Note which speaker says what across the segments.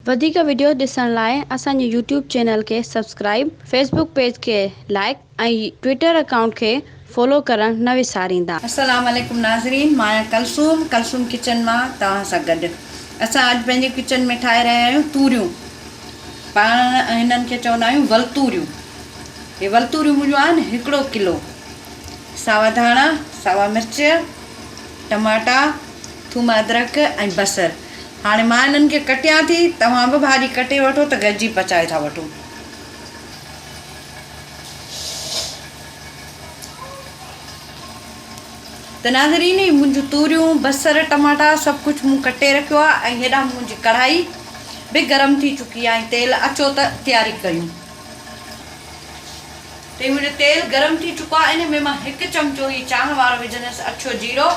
Speaker 1: وڌيڪ وڊيوز ڏسڻ لاء اسان جي يوٽيوب چينل کي سبسڪرائيب فيسبوڪ پيج کي لائڪ ۽ ٽوئيٽر اڪائونٽ کي فالو ڪرڻ نه وساريندا. السلام عليڪم
Speaker 2: ناظرين مان آهيان ڪلثوم ڪلثوم ڪچن مان توهان سان گڏ اسان اڄ پنهنجي ڪچن ۾ ٺاهي رهيا آهيون توريون پاڻ هنن کي چوندا آهيون ولتوريون هي ولتوريون منهنجون آهن هڪڙو ڪلو ساوا ڌاڻا ساوا مرچ ٽماٽا ٿوم ادرڪ ۽ بصر هاڻي مان هنن کي ڪٽيان ٿي توهان به ڀاڄي ڪٽي وٺو ته گڏجي پچائي ٿا وٺون. ته ناظرين هي منهنجون توريون بصر ٽماٽا سڀ ڪجهه مون ڪٽي رکيو آهي ۽ هيڏانهن منهنجي ڪڙهائي به گرم ٿي چڪي آهي تيل اچو ته تياري ڪيون تي منهنجو تيل گرم ٿي چڪو آهي ان ۾ مان هڪ چمچو هي چانهه وارو وجهندس اڇو جيرو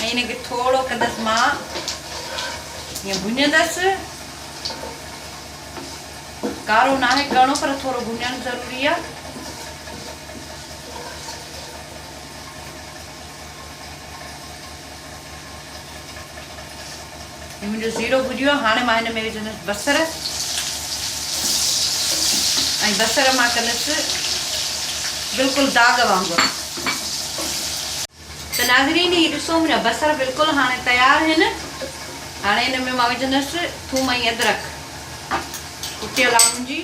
Speaker 2: ۽ ان کي ٿورو ڪندس مان هيئن ڀڃندس ڪارو ناهي ڪرڻو پر ٿورو ڀڃڻ ضروري آ. هي منهنجو زيرو ڀڄيو آ هاڻي مان هن ۾ وجهندس بصر ۽ بصر مان ڪندس بلڪل داغ وانگر. ته ناظرين هي ڏسو منهنجا بصر بلڪل هاڻي تيار هن هاڻي هن ۾ مان وجهندس ٿوم ۽ ادرڪ ڪٽيل آ منهنجي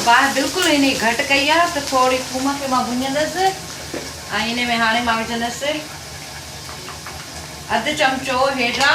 Speaker 2: باهه بلڪل هن هي گهٽ ڪئي آ ته ٿوري ٿوم کي مان ڀڃندس ۽ هن ۾ هاڻي مان وجهندس اڌ چمچو هيڊرا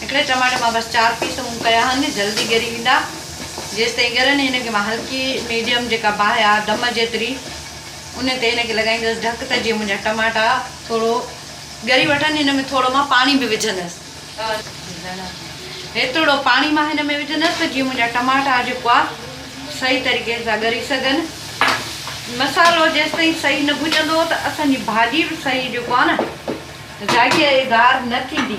Speaker 2: هڪڙي ٽماٽي مان بس چار پيس مون ڪيا آهن جلدي ڳري ويندا جيستائين ڳرن هن کي مان هلڪي ميڊيم جيڪا باهه آهي دم جيتري ان تي هن کي لڳائيندس ڍڪ ته جيئن منهنجا ٽماٽا ٿورو ڳري وٺن هن ۾ ٿورو مان پاڻي به وجهندس هيترڙو پاڻي مان هن ۾ وجهندس ته جيئن منهنجا ٽماٽا جيڪو آهي صحيح طريقي سان ڳري سگهن مصالو جيستائين صحيح نه ڀڄندو ته اسان جي ڀاڄي به صحيح جيڪو آهي نه ذائقي دار نه ٿيندي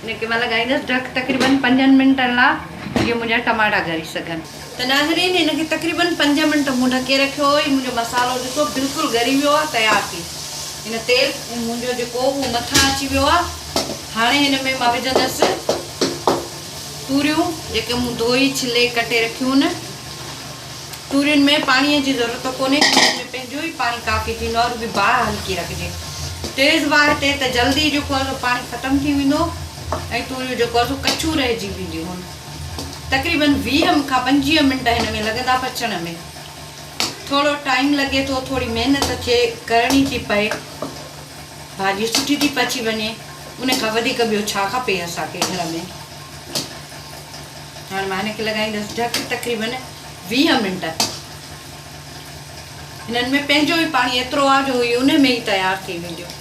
Speaker 2: نڪي مان لڳائيندس ڍڪ تقريبن پنجن منٽن لا جيئن منهنجا ٽماٽا ڳري سگهن. ته ناظرين هن کي تقريبن پنج منٽ مون ڍڪي رکيو هو هي منهنجو مصالحو ڏسو بلڪل ڳري ويو آهي تيار ٿي هن تيل منهنجو جيڪو هو مٿان اچي ويو آهي هاڻي هن ۾ مان وجهندس توريون جيڪي مون ڌوئي ڇلي ڪٽي رکيون هن تورين ۾ پاڻي جي ضرورت ڪونهي تورين ۾ پنهنجو ئي پاڻي ڪافي ٿيندو آهي رڳي باهه هلڪي رکجي تيز باهه تي ته جلدي جيڪو آهي سو پاڻي ختم ٿي ويندو ۽ توريون جيڪو آهي سو ڪچيون رهجي وينديون تقريبن ويهه کان پنجويهه منٽ هن ۾ لڳندا پچڻ ۾ ٿورو ٽائيم لڳي ٿو ٿوري محنت ٿئي ڪرڻي ٿي پئي ڀاڄي سٺي ٿي پچي وڃي ان کان وڌيڪ ٻيو ڇا کپي اسانکي گهر ۾ هاڻي مان هن کي لڳائيندس ڍڪ تقريبن ويهه منٽ هنن ۾ پنهنجو ئي پاڻي ايترو آ جو هي ان ۾ ئي تيار ٿي وينديون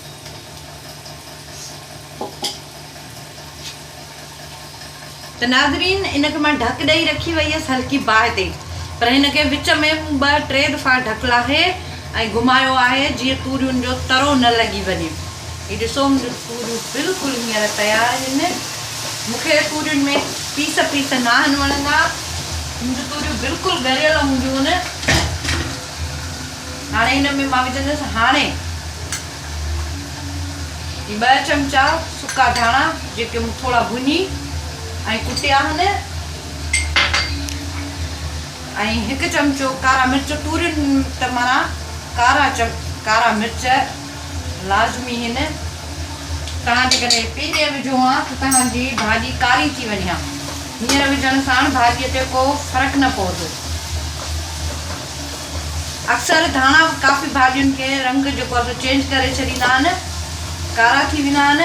Speaker 2: ته ناظرين ان کي مان ڍڪ ڏئي رکي وئي هيس هلڪي باهه تي پر هن کي وچ ۾ مون ٻه ٽي دفعا ڍڪ لاهي ۽ گهمايو آهي جيئن توريون جو ترو نه لڳي وڃي هي ڏسو منهنجون توريون بلڪل هينئر تيار آهن مون کي تورين ۾ پيس پيس ناهن وڻندا منهنجون توريون بلڪل ڳريل هونديون آهن هاڻي هن ۾ مان وجهندس هاڻي هي ٻه چمچا سڪا ڌاڻا جيڪي مون ٿورا ڀڃي ۽ ڪٽيا آهن ۽ هڪ چمچو ڪارا مرچ تورين ٽ مڻا ڪارا ڪارا مرچ لازمي هن توهان جيڪڏهن پهرين وجهو ها ته توهان جي ڀاڄي ڪاري ٿي وڃي ها هينئر وجهڻ ساڻ ڀاڄي تي ڪو فرق نه پوندو اڪثر ڌاڻا ڪافي ڀاڄين کي رنگ جيڪو آهي سو چينج ڪري ڇڏيندا آهن ڪارا ٿي ويندا آهن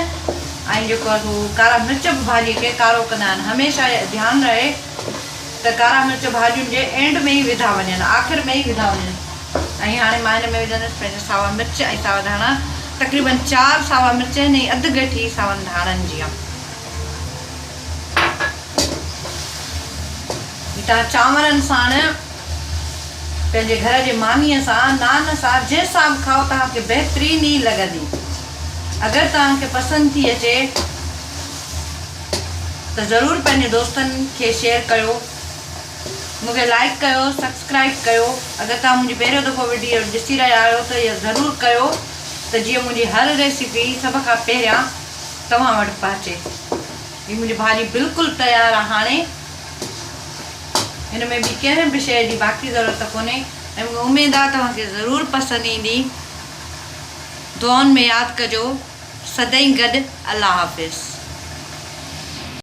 Speaker 2: ۽ جيڪو آهي سو ڪارا مرچ به ڀاڄي کي ڪارو ڪندا آهن هميشه ڌيان رهي ته ڪارا مرچ ڀاڄين جي اينڊ ۾ ئي وڌا وڃن آخر ۾ ئي وڌا وڃن ۽ هاڻي مان هن ۾ وجهندس پنهنجا ساوا مرچ ۽ ساوا ڌاڻا تقريبن چار ساوا مرچ آهن ۽ اڌ گٺي ساون ڌاڻن جي آهي جي توهان چانورن ساڻ پنهنجي گهر جي مانيء سان نان سان جنهن سان به کائو توهان کي بهترين ئي لڳندي اگر توهان کي پسند ٿي اچي ته ضرور پنهنجي دوستن کي شيئر ڪيو مون کي لائڪ ڪيو سبسڪرائب ڪيو اگر توهان منهنجي پهريون دفعو وڊيو ڏسي رهيا آهيو ته اهي ضرور ڪيو ته جيئن منهنجي هر ريسيپي سڀ کان پهريان توهان وٽ پهچي هي منهنجي ڀاڄي بلڪل تيار آهي هاڻي هن ۾ ٻي ڪنهن به شيء جي باقي ضرورت ڪونهي ۽ مون کي اميد آهي توهان کي ضرور پسند ايندي دعائن ۾ ياد ڪجو سدائين گڏ الله حافظ.